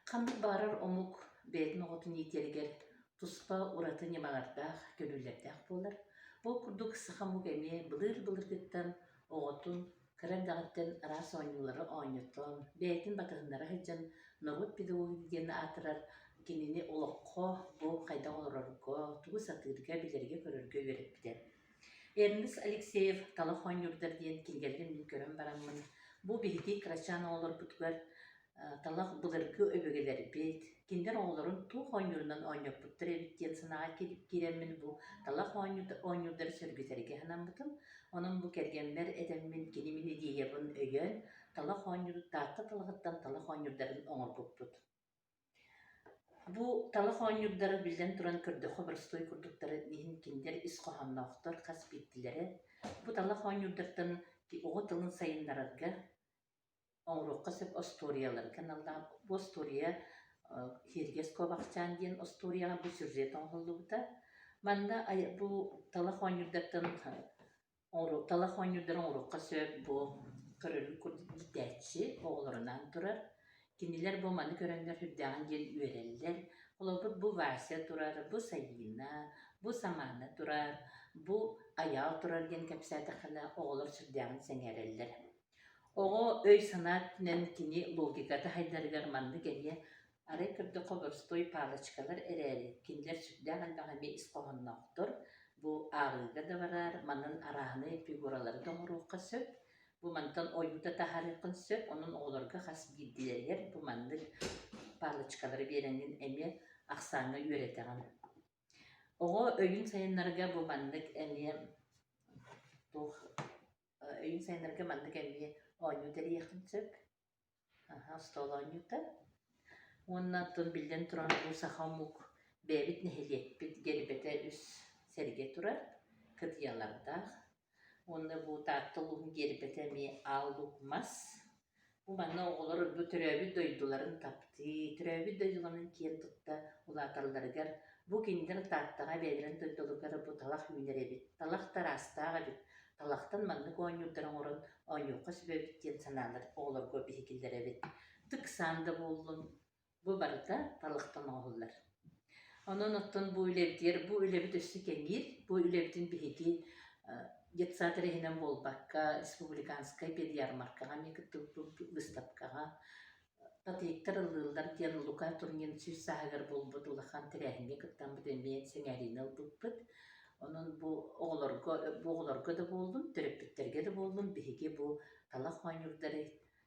Ханнык баҕарар омук бэйэтин оҕотун иитиэригэр туспа ураты ньымалардаах, көрүүлэрдээх буолар. Ол курдук саха омук эмиэ былыыр-былыргыттан оҕотун кыра эрдэҕиттэн араас оонньуулары оонньотон, бэйэтин батыһыннара сылдьан норуот педагогиги диэн аатырар кинини олоххо, бу хайдах олорорго, тугу сатыырга, билэргэ-көрөргө үөрэппитэ. Эрнест Алексеев «Талах оонньуурдар» диэн кинигэлэрин мин көрөн бараммын, бу биһиги кырачаан оҕолорбутугар талах былыргы өбүгэлэрбит кинилэр оҕолорун туох оонньуурунан оонньоппуттар эбит диэн санааҕа киирэммин бу талах оонньуурдары сөргүтэргэ санаммытым онон бу кэргэммэр этэммин кини мин идеябын өйөөн талах оонньуур таатта талаҕыттан талах оонньуурдарын оҥорбуппут бу талах оонньуурдара биллэн туран көрдөххө боростуой курдуктара иһин кинилэр ис хоһоонноохтор хас биирдилэрэ бу талах оонньуурдартан оҕо тылын сайыннарарга оҥоруохха сөп остуоруйалары каналлаах бу остуоруйа киэргэс куобахчаан диэн остуоруйаҕа бу сюжет оҥоһуллубута манна бу талах оонньуурдартан талах оонньуурдары оҥоруохха сөп бу көрөрүн курдук иитээччи оҕолорунаан турар кинилэр бу маны көрөннөр сүрдээҕин диэн үөрэллэр холобур бу Вася турар бу Сайыына бу Самаана турар бу Айаал турар диэн кэпсээтэххинэ оҕолор сүрдээҕин сэҥээрэллэр Оҕо өй-санаа өттүнэн кини логика таһайдарыгар маннык эриэ, арай көрдөххө боростуой палочкалар эрээри, кинилэр сүрдээх элбэх эмиэ ис хоһоонноохтор, бу ааҕыыга да бараар, манан арааһынай фигуралары да оҥоруохха сөп, бу мантан ойуута таһаарыаххын сөп, онон оҕолорго хас биирдиилэригэр бу маннык палочкалары биэрэҥҥин эмиэ ахсааҥҥа үөрэтэҕин. Оҕо өйүн сайыннарга бу маннык эмиэ туох өйүҥ сайыннарарга манна кэллиэ оонньуу тэрийиэххин сөп аһа остуол оонньуута уонна оттон биллэн турар бу саха омук бэйэбит нэһилиэкпит гэрбэтэ үс сэргэ турар кытыйалардаах уонна бу таатта улууһун гербэтэ эмиэ аал мас Манна оҕолор төрөөбүт дойдуларын таптыы, төрөөбүт дойдуларын киэн тутта улааталларыгар, бу кинилэр Тааттаҕа бэйэлэрин дойдуларыгар бу талах үүнэр эбит, талах тараастаах эбит, талахтан маннык оонньуурдары оҥорон оонньуохха сөп эбит диэн санаалар оҕолорго биһикиллэр эбит. Ыксаан да буоллун, Бу барыта талахтан оҥоһуллар. Онон оттон бу үлэбитигэр бу үлэбит өссө кэҥиир, бу үлэбитин биһиги детсад иһинэн буолбакка, республиканскай педярмаркаҕа эмиэ кытта быыстапкаҕа татыйыктар ыллыыллар диэн Лука Турнин сүүс сааһыгар буолбут улахан тэрээһиҥҥэ кыттаммыт эмиэ сэҥээриини ылбыппыт. Онон бу оҕолорго бу оҕолорго да буоллун, төрөппүттэргэ да буоллун биһиги бу талах оонньуурдары